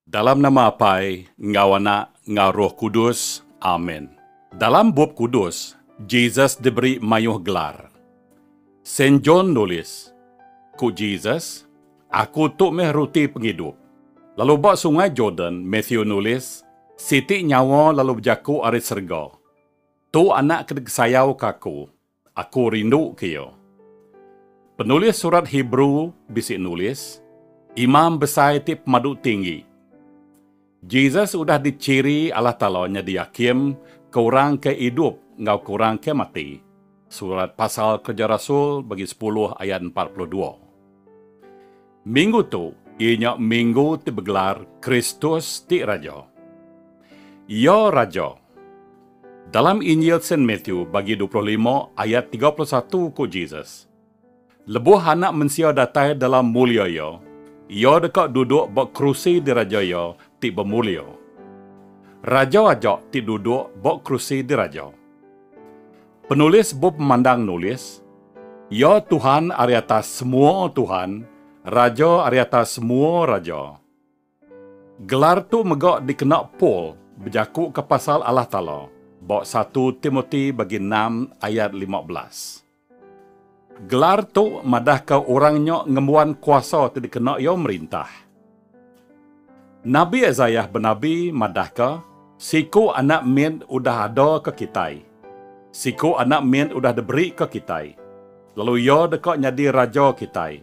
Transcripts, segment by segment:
Dalam nama Apai, enggau Anak, enggau Roh Kudus. Amen. Dalam Bup Kudus, Jesus diberi mayuh gelar. Saint John nulis, Ku Jesus, Aku tu meh Ruti Pengidup. Lalu ba Sungai Jordan, Matthew nulis, Siti nyawa lalu bejaku ari serega, Tu anak ke dikesayauka Aku, Aku rindu ke iya. Penulis Surat Hebrew bisi nulis, Imam Besai ti pemadu tinggi. Jesus udah dichiri Allah Taala nyadi Hakim ke orang ke idup enggau ke orang ke mati, Surat Pasal Kereja Rasul bagi sepuluh ayat empat puluh dua. Minggu tu iya nya minggu ti begelar Kristus ti Raja. Iya Raja. Dalam Injil Saint Matthew bagi dua puluh lima ayat tiga puluh satu ku Jesus, Lebuh Anak Mensia datai dalam mulia Iya, Iya deka duduk ba kerusi diraja Iya ti bemulia. Raja aja ti duduk ba kerusi diraja. Penulis bup memandang nulis, Iya Tuhan ari atas semua tuhan, Raja ari atas semua raja. Gelar tu mega dikena Paul bejakuka pasal Allah Taala ba satu Timoti bagi enam ayat lima belas. Gelar tu madahka orang nya ngembuan kuasa ti dikena iya merintah. Nabi Isaiah benabi madahka, Siku anak mit udah ada ke kitai. Siku anak mit udah diberi ke kitai, lalu iya deka nyadi raja kitai.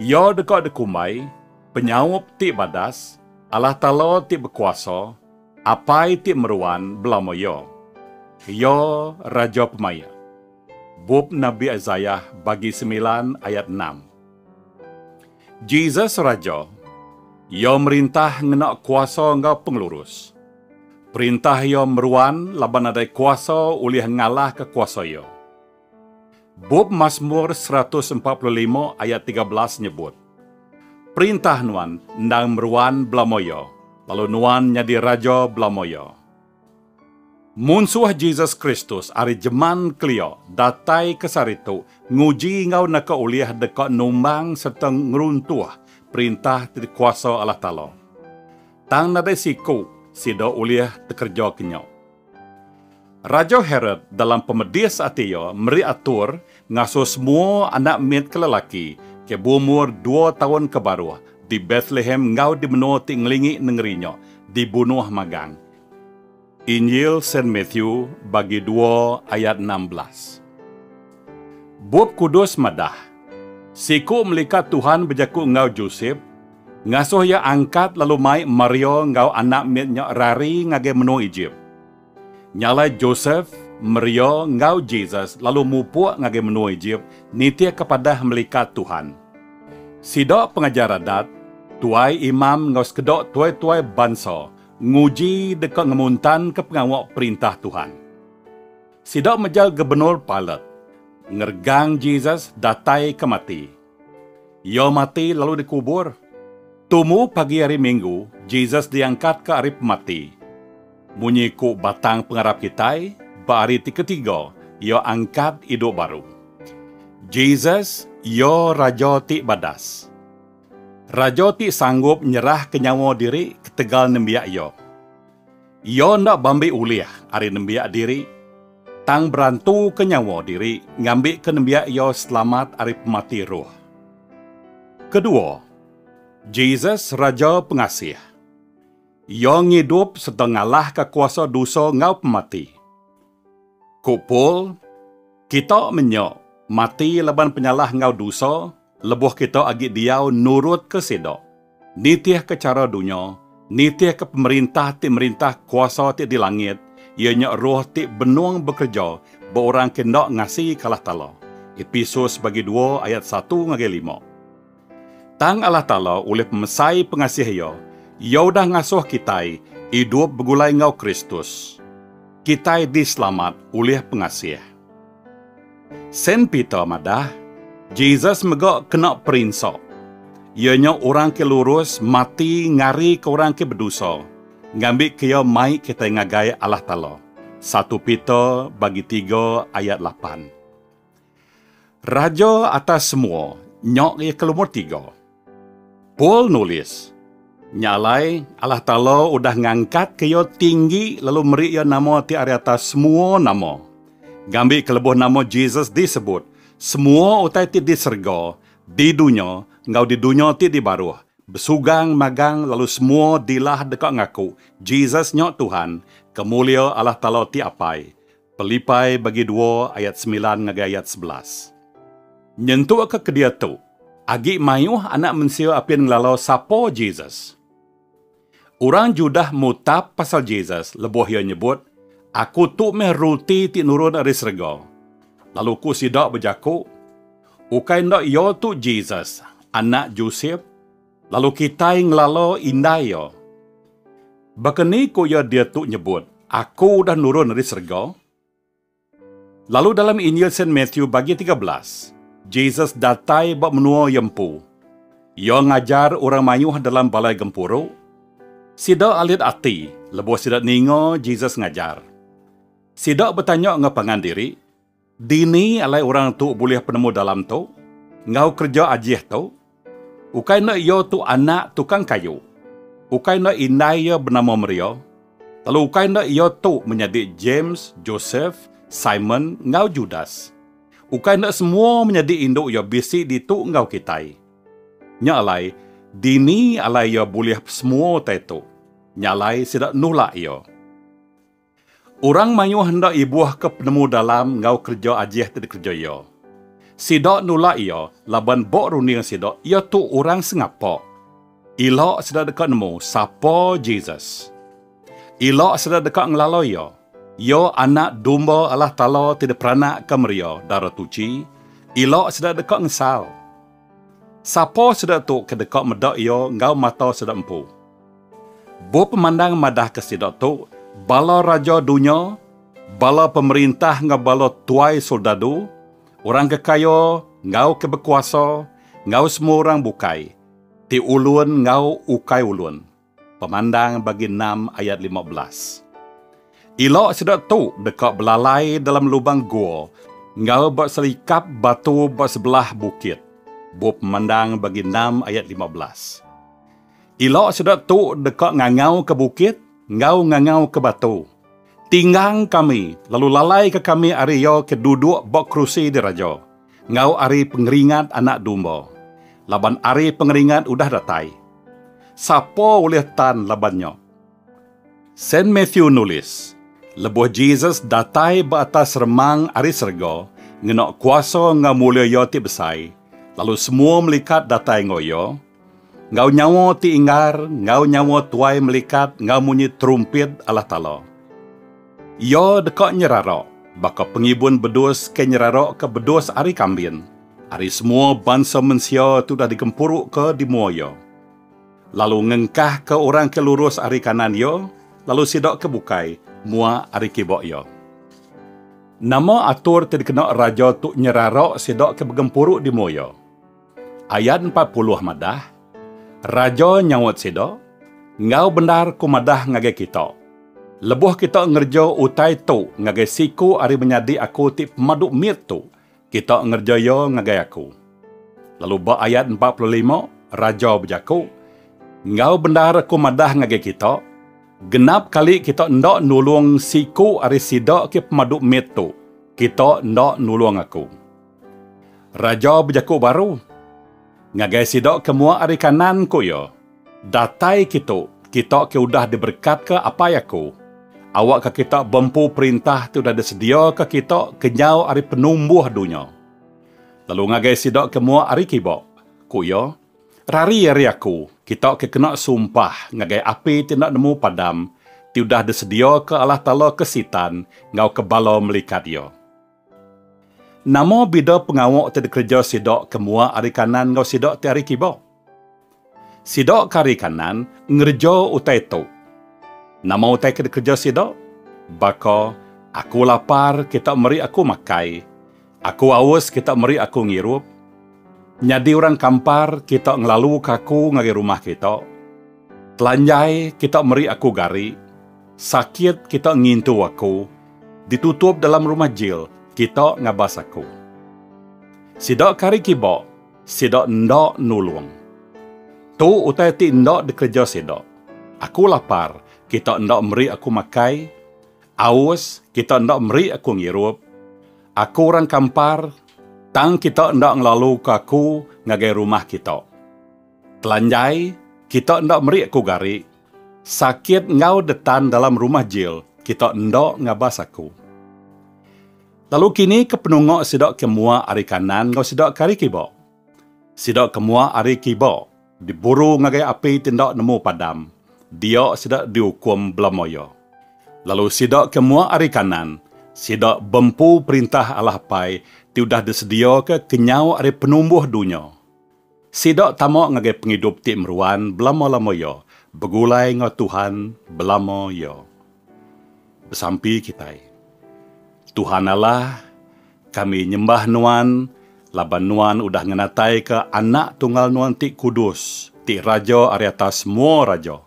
Iya deka dikumbai, Penyaup ti Badas, Allah Taala ti Bekuasa, Apai ti Meruan belama iya. Iya Raja Pemaik. Bup Nabi Isaiah bagi semilan ayat enam. Jesus Raja. Iya merintah ngena kuasa enggau pengelurus. Perintah Iya meruan laban nadai kuasa ulih ngalahka kuasa Iya. Bup Masmur seratus empat puluh lima ayat tiga belas nyebut, Perintah Nuan endang meruan belama Iya, lalu Nuan nyadi Raja belama Iya. Munsuh Jesus Kristus ari jeman kelia datai ke sehari tu nguji enggau neka ulih deka numbang sereta ngeruntuh perintah ti dikuasa Allah Taala. Tang nadai siku sida ulih tekereja ke nya. Raja Herod dalam pemedis ati iya meri atur Ngasuh semua anak mit ke lelaki ke beumur dua taun ke baruh di Betlehem enggau di menua ti ngelingi nengeri nya dibunuh magang. Injil Saint Matthew bagi dua ayat enam belas. Bup Kudus madah, siku melikat Tuhan bejaku enggau Josep, ngasuh iya angkat lalu mai Maria enggau anak mit nya rari ngagai menua Ejip. Nya alai Josef, Maria, enggau Jesus lalu mupuk ngagai menua Ejip nitihka padah melikat Tuhan. Sida pengajar adat, tuai imam enggau sekeda tuai-tuai bansa nguji deka ngemuntanka pengawa Perintah Tuhan. Sida mejal Gubernur Pilat ngeregang Jesus datai ke mati. Iya mati lalu dikubur. Tumu pagi hari Minggu, Jesus diangkatka ari pemati. Munyi ku batang pengarap kitai, ba hari ti ketiga, iya angkat idup baru. Jesus, iya Raja ti badas. Raja ti sanggup nyerahka nyawa diri ketegal nembiak iya. Iya enda beambi ulih ari nembiak diri, tang berantuka nyawa diri ngambika nembiak iya selamat ari pemati roh. Kedua, Jesus Raja Pengasih. Iya ngidup sereta ngalahka kuasa dosa enggau pemati. Ku Paul, Kita menya mati laban penyalah enggau dusa lebuh kita agi diau nurutka sida, nitihka chara dunya, nitihka pemerintah ti merintah kuasa ti di langit, iya nya roh ti benung bekereja ba orang ke enda ngasika Allah Taala. Episus bagi dua ayat satu ngagai lima. Tang Allah Taala ulih pemesai pengasih Iya, Iya udah ngasuh kitai idup begulai enggau Kristus. Kitai diselamat ulih pengasih. Saint Peter madah, Jesus mega kena perinsa. Iya nya orang ke lurus mati ngarika orang ke bedosa, ngambika iya mai kitai ngagai Allah Taala, satu Peter bagi tiga ayat lapan. Raja atas semua nya iya ke lumur tiga. Paul nulis, Nya alai, Allah Taala udah ngangkatka iya tinggi lalu meri iya nama ti ari atas semua nama. Ngambika lebuh nama Jesus disebut, semua utai ti di serega, di dunya, enggau di dunya ti di baruh, besugang magang lalu semua dilah deka ngaku, Jesus nya Tuhan, ke mulia Allah Taala ti Apai. Pelipai bagi dua ayat semilan ngagai ayat sebelas. Nyentukka ke diatu, agi mayuh Anak Mensia apin ngelalau sapa Jesus. Orang Judah mutap pasal Jesus lebuh iya nyebut, Aku tu meh ruti ti nurun ari serega. Lalu ku sida bejaku, Ukai enda iya tu Jesus, anak Josep? Lalu kitai ngelala indai iya. Baka ni ku iya diatu nyebut, Aku udah nurun ari serega? Lalu dalam Injil Saint Matthew bagi tiga belas, Jesus datai ba menua iya empu. Iya ngajar orang mayuh dalam balai gempuru. Sida alit ati lebuh sida ninga Jesus ngajar. Sida betanya enggau pangan diri, Dini alai orang tu bulih penemu dalam tu enggau kereja ajih tu? Ukai enda iya tu anak tukang kayu. Ukai enda indai iya benama Maria. Lalu ukai enda iya tu menyadi James, Joseph, Simon, enggau Judas. Ukai enda semua menyadi indu iya bisi ditu enggau kitai. Nya alai, dini alai iya bulih pesemua utai tu? Nya alai sida nulak iya. Orang mayuh enda ibuhka penemu dalam enggau kereja ajih ti dikereja iya. Sida nulak iya laban ba runding sida iya tu orang sengapa. Ila sida deka nemu sapa Jesus. Ila sida deka ngelala iya. Iya Anak Domba Allah Taala ti diperanakka meri iya dara tuchi. Ila sida deka ngesal. Sapa sida tu ke deka meda Iya enggau mata sida empu? Bup Pemandang madahka sida tu bala raja dunya, bala pemerintah enggau bala tuai soldadu, orang ke kaya enggau ke bekuasa, enggau semua orang bukai, ti ulun enggau ukai ulun. Pemandang bagi enam ayat lima belas. Ila sida tu deka belalai dalam lubang gua enggau ba selikap batu ba sebelah bukit. Bup Pemandang bagi enam ayat lima belas. Ila sida tu deka ngangauka bukit enggau ngangauka batu, Tinggang kami, lalu lalaika kami ari iya ke duduk ba kerusi diraja. Enggau ari pengeringat Anak Domba. Laban ari pengeringat udah datai, sapa ulih tan laban nya? Saint Matthew nulis, Lebuh Jesus datai ba atas remang ari serega ngena kuasa enggau mulia Iya ti besai, lalu semua melikat datai enggau Iya, Enggau nyawa ti inggar, enggau nyawa tuai melikat enggau munyi terumpit Allah Taala. Iya deka nyerara baka pengibun bedus ke nyeraraka bedus ari kambin, ari semua bansa mensia ti udah digempuruka di mua Iya, lalu ngengkahka orang ke lurus ari kanan Iya, lalu sida ke bukai, muak ari kiba Iya. Nama atur ti dikena Raja tu nyerara sida ke begempuru di mua Iya? Ayat empat puluh madah, Raja nyaut sida, Enggau bendar ku madah ngagai kita, Lebuh kita ngereja utai tu ngagai siku ari menyadi aku ti pemadu mit tu, kita ngereja iya ngagai aku. Lalu ba ayat empat puluh lima, raja bejaku, Enggau bendar aku madah ngagai kita, Genap kali kita enda nulung siku ari sida ke pemadu mit tu, kita enda nulung aku. Raja bejaku baru. Ngagai sida ke muak ari kanan, ku iya, Datai kitu, kita ke udah diberekatka Apai aku. Awakka kita bempu perintah ti udah disediaka kita kenyau ari penumbuh dunya. Lalu ngagai sida ke muak ari kiba, ku iya, Rari ari aku, kita ke kena sumpah ngagai api ti enda nemu padam, ti udah disediaka Allah Taala ke Sitan enggau ke bala melikat iya. Nama bida pengawa ti dikereja sida ke mua ari kanan enggau sida ti ari kiba? Sida ke ari kanan ngereja utai tu. Nama utai ke dikereja sida? Baka, Aku lapar, kita meri aku makai. Aku aus, kita meri aku ngirup. Nyadi orang kampar, kita ngelaluka aku ngagai rumah kita. Telanjai, kita meri aku gari. Sakit, kita ngintu aku. Ditutup dalam rumah jil, kita ngabas aku. Sida kari kiba, sida enda nulung. Tu utai ti enda dikereja sida. Aku lapar, kita enda meri aku makai, aus, kita enda meri aku ngirup. Aku orang kampar, tang kita enda ngelaluka aku ngagai rumah kita. Telanjai, kita enda meri aku gari. Sakit enggau detan dalam rumah jil kita enda ngabas aku. Lalu kini ke penunga sida ke mua ari kanan enggau sida ke ari kiba. Sida ke mua ari kiba diburu ngagai api ti enda nemu padam, dia sida diukum bela moya. Lalu sida ke mua ari kanan, sida bempu Perintah Allah Apai ti udah disediaka kenyau ari penumbuh dunya. Sida tama ngagai pengidup ti meruan belama-lama iya, begulai enggau Tuhan belama iya. Besampi kitai. Tuhan Allah, kami nyembah Nuan laban Nuan udah ngenataika Anak Tunggal Nuan ti kudus, ti raja ari atas semua raja.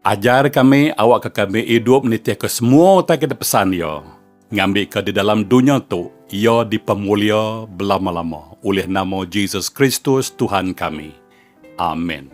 Ajar kami awakka kami idup nitihka semua utai ke dipesan Iya, ngambika di dalam dunya tu Iya dipemulia belama-lama ulih nama Jesus Kristus, Tuhan kami. Amin.